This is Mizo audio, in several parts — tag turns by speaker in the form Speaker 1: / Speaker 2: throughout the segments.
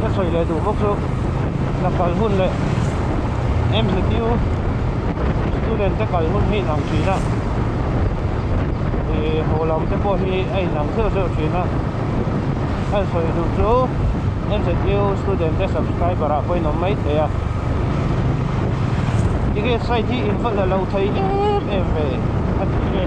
Speaker 1: ka sawi leh duh bawk chu ka kal hun leh mzq student te kal hun hi inang thin a ih haw lam te pawh hi a inang zeuh zeuh thin a a sawi duh chu mzq student te subscriber ah pawhin awm mai thei a tikhet site hi involh la lo thei em em ve a ni e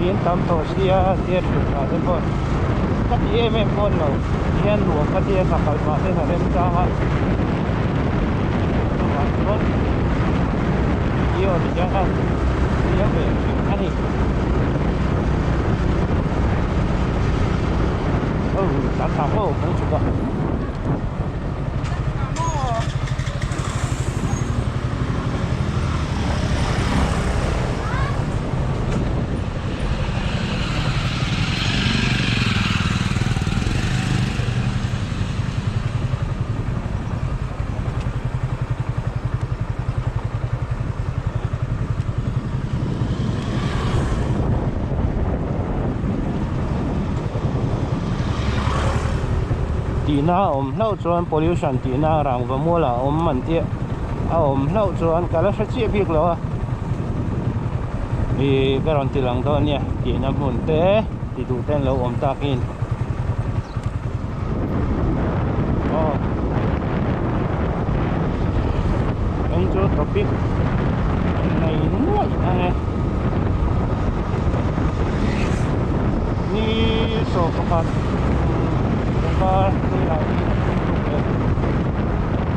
Speaker 1: Min en tam tawh si a, Zia ṭhian nghah te pawh ka ti em em pawn lo, Thian luah ka tia ta kal mah ten a rem chang a, chuvang chuan Zio ni hian a hria ve thin a ni. Au, kan tla maw aw kan chhuk a. tihna a awm hlauh chuan pollution tihna rangva mual ah a awm man tih a awm hlauh chuan ka la hre chiah bik lo a. i ka rawn ti lang dawn nia tihna hmun te ti duh te an lo awm takin aw eng chu topic an nei nuaih a nge ni sawh pakhat pangpar ni lah hi a hming tuk leh.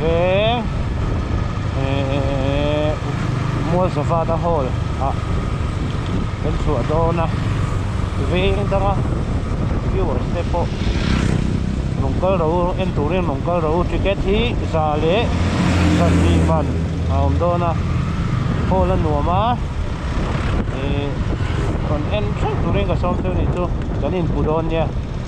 Speaker 1: veng ehh mualsavana hall ah kan chhuah dawn a veng dang a viewers te pawh rawn kal ro en turin rawn kal ro ticket hi za leh zazui man a awm dawn a hall a nuam a ihh rawn en thleng turin ka sawm chu nih chu kan inpu dawn nia.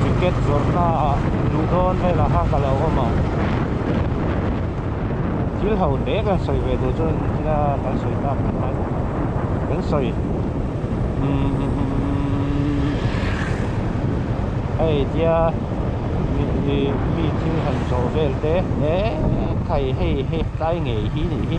Speaker 1: Cricket zawrhna ah duh dawn vel ah kha ka lo awm ang, thil ho te kan sawi ve duh chuan thila kan sawi tak ang lai bawk a, kan sawi hei tia mi thil han zawh vel te ekhai hei he tlai ngei hi nih hi.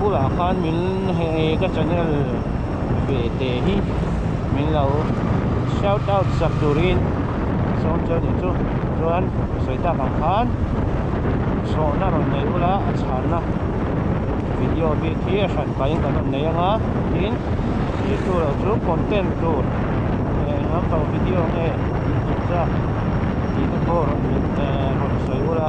Speaker 1: bulah khan min hei ka channel ve te hi min lo shout out sak turin a sawm chu a ni chu chuan sawitak ang khan chhawhna rawn nei ula a chhanna video bik hi a hran pahin kan rawn nei ang a tin he chu lo chu content tur nge eng lam pang video nge inchung chak tihte pawh rawn sawi ula.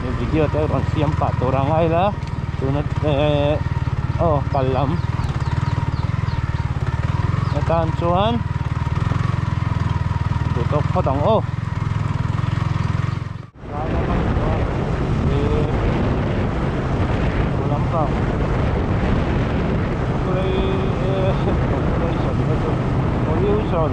Speaker 1: he video te rawn siam pah tur a ngai la tuna eee aw pal lam hetan chuan duh tawk phawt ang aw pollution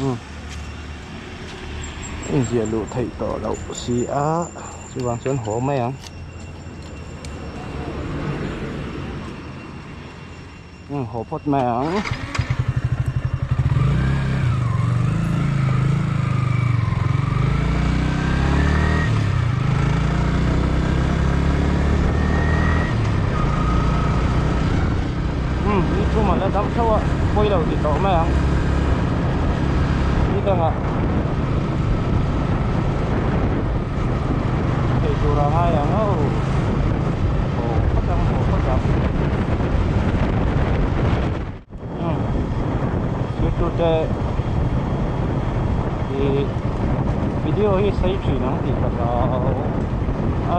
Speaker 1: Umm. Inziah luh theih tawh loh si a, chuvang chuan haw mai ang. Umm haw phawt mai ang. Umm ni chhum ah la dam theuh a pawi lo ti tawh mai ang ni dang ah thei tur a ngai ang au haw phawt ang haw phawt ang umm zirtirte ih video hi sei thin ang tih ka zau a.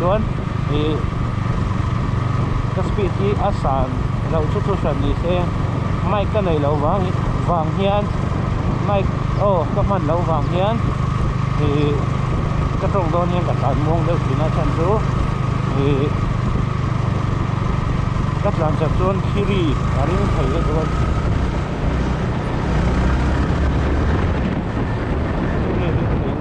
Speaker 1: chuan ih ka speed hi a san lo chu chu hran ni se mic ka neih loh vang vang hian mic aw ka hman loh vang hian ih ka tawng dawn hian ka tlan muang deuh thin a chhan chu ih ka tlan chak chuan thiri a ring thei a dawn thiri a ring thei a dawn.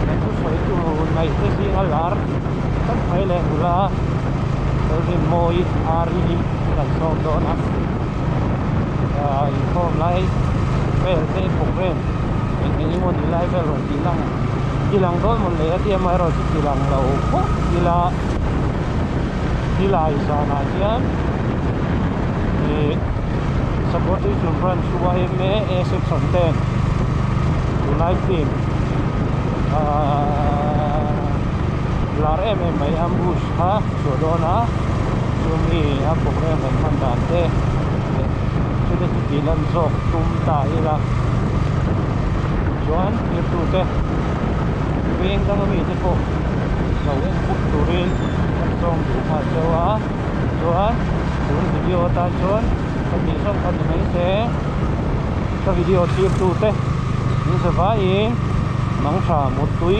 Speaker 1: hnaihnu sawitu nei te zinga lar tam mai leh nula thil rinmawi ar hi an rawn sawm dawn a ah inkhawm lai vel te programme eng eng emaw ni lai vel rawn tih na ang ti lang dawn hmawlh leh a ti am erawh chu ti lang lo fawh ila tilai zanah hian ihh-- Sabuatui Tlum Branch hma ema ASF san ten tunai hnim lar em em mai ambush kha chhuah dawn a chumi a pawm em kan hman dan te chute chuti lan zawk tum ta ila chuan thirtu te veng dang ami te pawh lo en put turin an zawng duh nghal chauh a. Chuan tun video atan chuan ka tih zawng kha ni mai se ka video tirtute min ze vaiin Mangṭha mut tui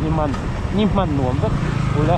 Speaker 1: ni man ni hman nuam vek u le.